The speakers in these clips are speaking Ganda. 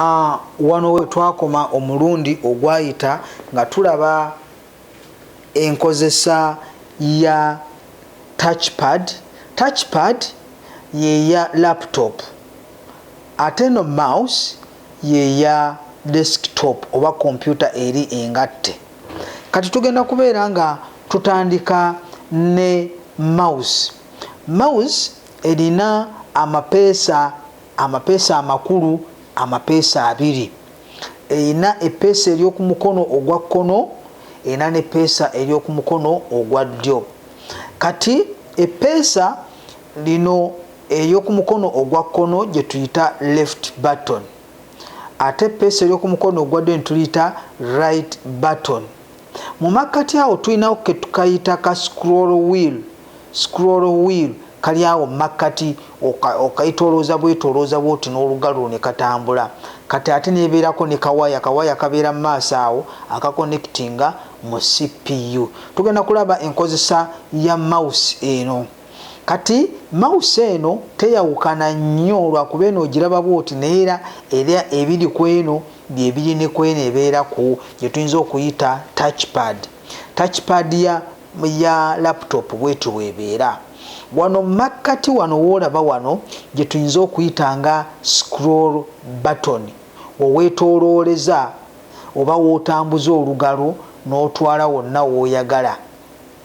Ah, wano we twakoma omulundi ogwayita nga tulaba enkozesa ya touchpad touchpad yeya laptop ate no mouse yeya desktop oba kompyuta eri engatte kati tugenda kubeera nga tutandika ne mouse mouse erina amapeesa amapeesa amakulu amapeesa abiri erina epeesa ery'oku mukono ogwa kkono erina nepeesa ery'oku mukono ogwa ddyo kati epeesa lino ery'oku mukono ogwa kkono gye tuyita left button ate epeesa ery'oku mukono ogwa ddyo netuliyita right button mu makkati awo tulinawo ketukayita ka scroll wheel Scroll wheel kali awo mu makkati, okaitolooza bwetolooza bwoti n'olugal lwo ne katambula. Kati ate nebeerako ne kawaya, kawaya kabeera mu maaso awo aka connectinga mu CPU. Tugenda kulaba enkozesa ya mouse eno. Kati mouse eno teyawukana nnyo lwakuba eno ogiraba bwoti naye era era ebiri kweno byebiri ne kweno ebeera ku gyetuyinza okuyita touchpad. Touchpad ya ya laptop bwetyo bwebeera wano makkati wano woolaba wano gye tuyinza okuyita nga scroll button oweetoolooleza oba wootambuza olugalo n'otwala wonna wooyagala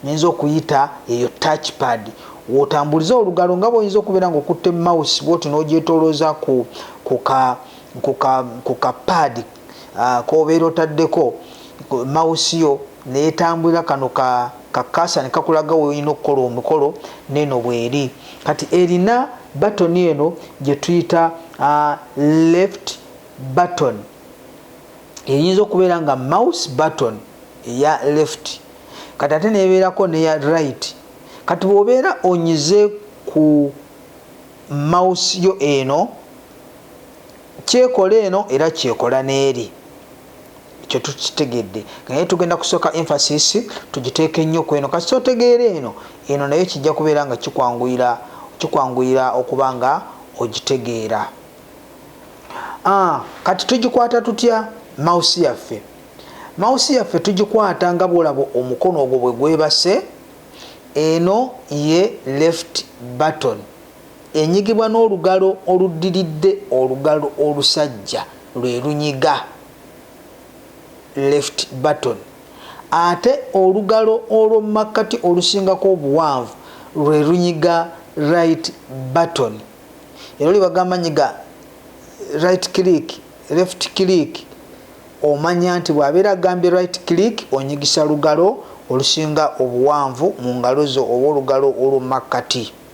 nyinza okuyita eyo touch pad wootambuliza olugalo nga bwoyinza okubeera nga okutte mouse bwotyo n'ogyetoolooza ku ku ka ku ka paadi ah, kobeera otaddeko mawusi yo netambulira kano ka kakasa nekakulaga woyina okukola omukolo neno bweri kati erina batoni eno gyetuyita uh, left button eyinza okubeera nga mouse button eya left kati ate nebeerako neya right kati bwobeera onyize ku mouse yo eno Kyekola eno era kyekola n'eri. Ekyo tukitegedde. Naye tugenda kusooka emphasis tugiteeke nnyo ku eno. Kasita otegeera eno, eno nayo kijja kubeera nga kikwanguyira, kikwanguyira okuba nga ogitegeera. Ah, kati tugikwata tutya mawusi yaffe? Mawusi yaffe tugikwata nga bw'olaba omukono ogwo bwe gwebase. Eno ye left button. Enyigibwa n'olugalo oluddiridde olugalo olusajja lwe lunyiga, left button, ate olugalo olw'omu makkati olusingako obuwanvu lwe lunyiga, right button. Era oli bagamba nyiga right click, left click, omanya nti bw'abeera agambye right click onyigisa lugalo olusinga obuwanvu mu ngalo zo oba olugalo olw'omu makkati.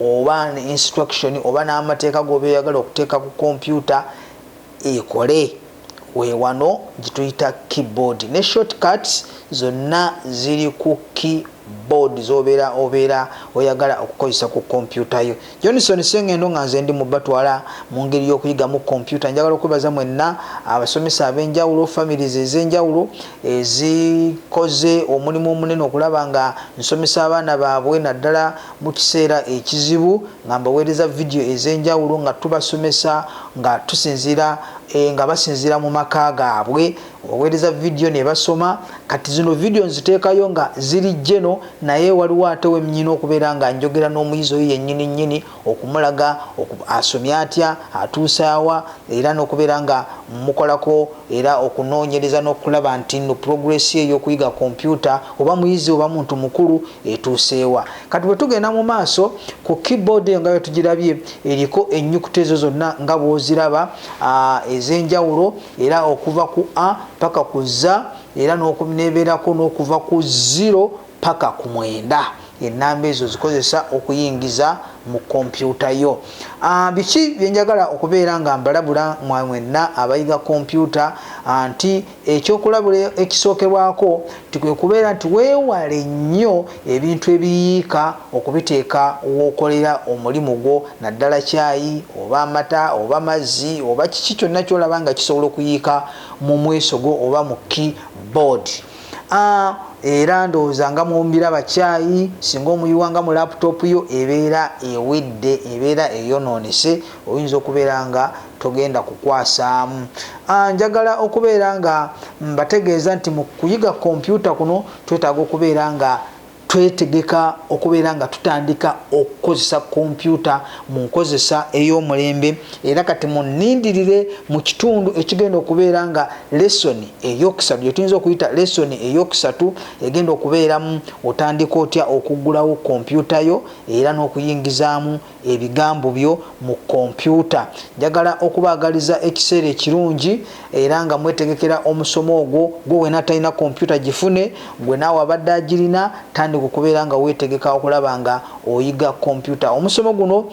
oba ne instruction oba n'amateeka goba eyagala okuteeka ku kompyuta ekole wewano gituyita keyboard ne shortcuts zonna ziri ku keyboard zobeera obeera oyagala okukozesa ku kompyuta yo johnson sengendo nga nze ndi mubatwala mu ngeri y'okuyigamu kompyuta njagala okwebaza mwenna abasomesa ab'enjawulo families ez'enjawulo ezikoze omulimu omunene okulaba nga nsomesa abaana baabwe naddala mukiseera ekizibu nga mbawereza video ezenjawulo nga tubasomesa nga tusinzira e, nga basinzira mu maka gaabwe obawereza video nebasoma kati zino video nziteekayo nga ziri jeno naye waliwo ate wemnyina okubeera nga njogera n'omuyizi oyo yennyini nnyini okumulaga asomye atya atuusaawa era n'okubeera nga mukolako era okunoonyereza n'okulaba nti no progress eyokuyiga kompyuta oba muyizi oba muntu mukulu etuuseewa kati bwe tugenda mu maaso ku keyboard eyo nga bwe tugirabye eriko ennyukuta ezo zonna nga bw'oziraba ez'enjawulo era okuva ku a paka ku za era n'okuneebeerako n'okuva ku ziro paka ku mwenda ennamba ezo zikozesa okuyingiza mu kompyuta yo ah, biki byenjagala okubeera nga mbalabula mwenna abayiga kompyuta ah, nti Ekyokulabula ekisookerwako nti kwe kubeera nti weewale nnyo ebintu ebiyiika okubiteeka w'okolera omulimu gwo naddala caayi oba amata oba mazzi oba kiki kyonna ky'olaba nga kisobola okuyiika mu mwesogo oba mu key board. A. era ndowooza nga mumbiraba caayi singa omuyiwa nga mu laptop yo ebeera ewedde ebeera eyonoonese oyinza okubeera nga togenda kukwasaamu ah, njagala okubeera nga mbategeeza nti mu kuyiga kompyuta kuno twetaaga okubeera nga twetegeka okubeera nga tutandika okukozesa kompyuta mu nkozesa ey'omulembe era kati munindirire mu kitundu ekigenda okubeera nga lesoni eyokusatu gyetuyinza okuyita lesoni eyokusatu egenda okubeeramu otandika otya okuggulawo kompyuta yo era n'okuyingizaamu ebigambo byo mu kompyuta. Njagala okubaagaliza ekiseera ekirungi era nga mwetegekera omusomo ogwo. Gwe wena atalina kompyuta gifune, gwe naawe abadde agirina tandika okubeera nga weetegeka okulaba nga oyiga kompyuta. Omusomo guno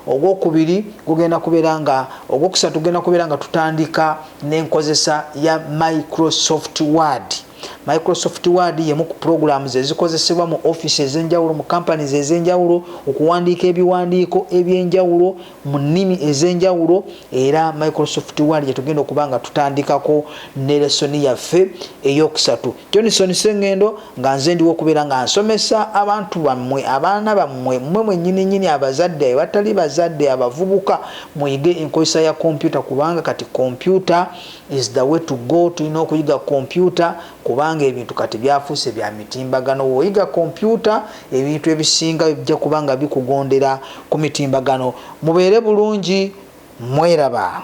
ogwokubiri gugenda kubeera nga ogwokusatu gugenda kubeera nga tutandika n'enkozesa ya Microsoft Word. Microsoft Word y'emu ku pulogulaamu ze zikozesebwa mu ofiisi ez'enjawulo mu companies ez'enjawulo okuwandiika ebiwandiiko eby'enjawulo mu nnimi ez'enjawulo era Microsoft Word gye tugenda okuba nga tutandikako ne lesoni yaffe ey'okusatu Johnson Sengendo nga nze ndiwo okubeera nga nsomesa abantu bammwe abaana bammwe mmwe mwennyini nnyini abazadde abatali bazadde abavubuka muyige enkozesa ya kompyuta kubanga kati kompyuta is the way to go tulina okuyiga kompyuta kubanga ebintu kati byafuuse bya mitimbagano woyiga kompyuta ebintu ebisinga bijja kubanga bikugondera ku mitimbagano mubeere bulungi mweraba